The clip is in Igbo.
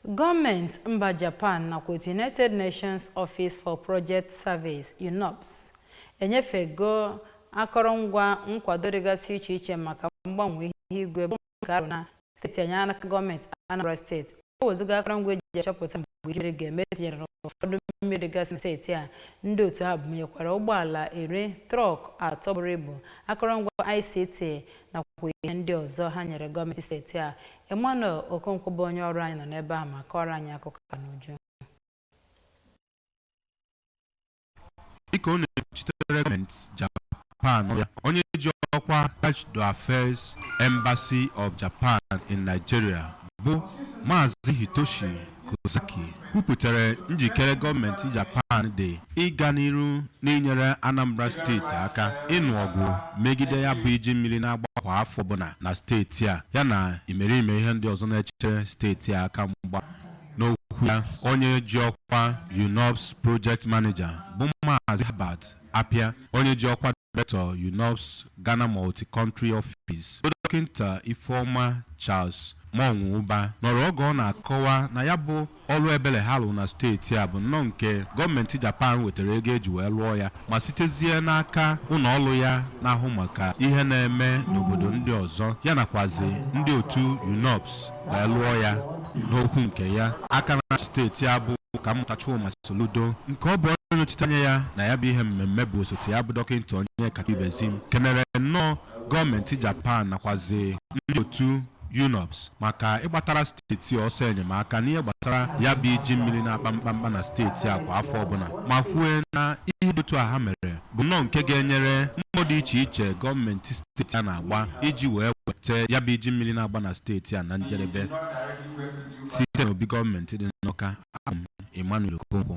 Gọọmenti mba Japan nakwa otu United Nations Office for Project Service, UNOPS, enyefego akọrọngwa nkwado dịgasị iche iche maka mgbanwe ihu igwe bụ nke a rụ na steeti anyị n'aka gọọmenti Anambra steeti o wezuga akọrọngwa eji achọpụta mgbe iju mmiri ga-eme tinyere n'ụfọdụ mmiri dịgasị na steeti a ndị otu ha bunyekwara ụgbọala iri trọk atọ buru ibu akọrọngwa ICT nakwa ihe ndị ọzọ ha nyere gọọmenti steeti a Emmanuel Okonkwo bụ onye ọrụ anyị nọ n'ebe ahụ ma kọọrọ anyị akụkọ a n'uju dịka ọ na-ekwuchitere gọọmenti Japan onye ji ọkwa Chargé d'Affaires Embassy of Japan in Nigeria bụ Maazị Hitoshi Kozaki kwupụtara njikere gọọmenti Japan dị ịga n'iru n'inyere Anambra steeti aka ịnụ ọgụ megide ya bụ iji mmiri na-agba kwa afọ ọbụla na steeti a yana imerime ihe ndị ọzọ na-echere steeti a aka mgba n'okwu ya onye ji ọkwa UNOPS project manager bụ Maazị Herbert Appiah, onye ji ọkwa Director UNOPS Ghana Multi-Country Office, bụ Dọkịta Ifeoma Charles Monwuba, nọrọ oge ọ na-akọwa na ya bụ ọrụ ebele ha lụ na steeti a bụ nnọọ nke gọọmenti Japan wetara ego eji wee lụọ ya ma sitezie n'aka ụnọ ọlụ ya na-ahụ maka ihe na-eme n'obodo ndị ọzọ ya nakwazi ndị otu UNOPS wee lụọ ya n'okwu nke ya aka na-achị steeti a bụ Ọkammụta Chukwuma Soludo nke ọ bụ onye nọchite anya ya na ya bụ ihe mmemme bụ osote ya bụ Dọkịta Onyekachukwu Ibezim kenere nnọọ gọọmenti Japan nakwazi ndị otu UNOPS maka ịgbatara steeti ọsọ enyemaka n'ihe gbasara ya bụ iji mmiri na-akpa mkpamkpa na steeti a kwa afọ ọbụla ma kwue na ihe dị otu a ha mere bụ nnọọ nke ga-enyere mbọ dị iche iche gọọmenti steeti a na-agba iji wee weta ya bụ iji mmiri na-agba na steeti a na njedebe site n'obi gọọmenti dị n'Awka abụ m Emmanuel Okonkwo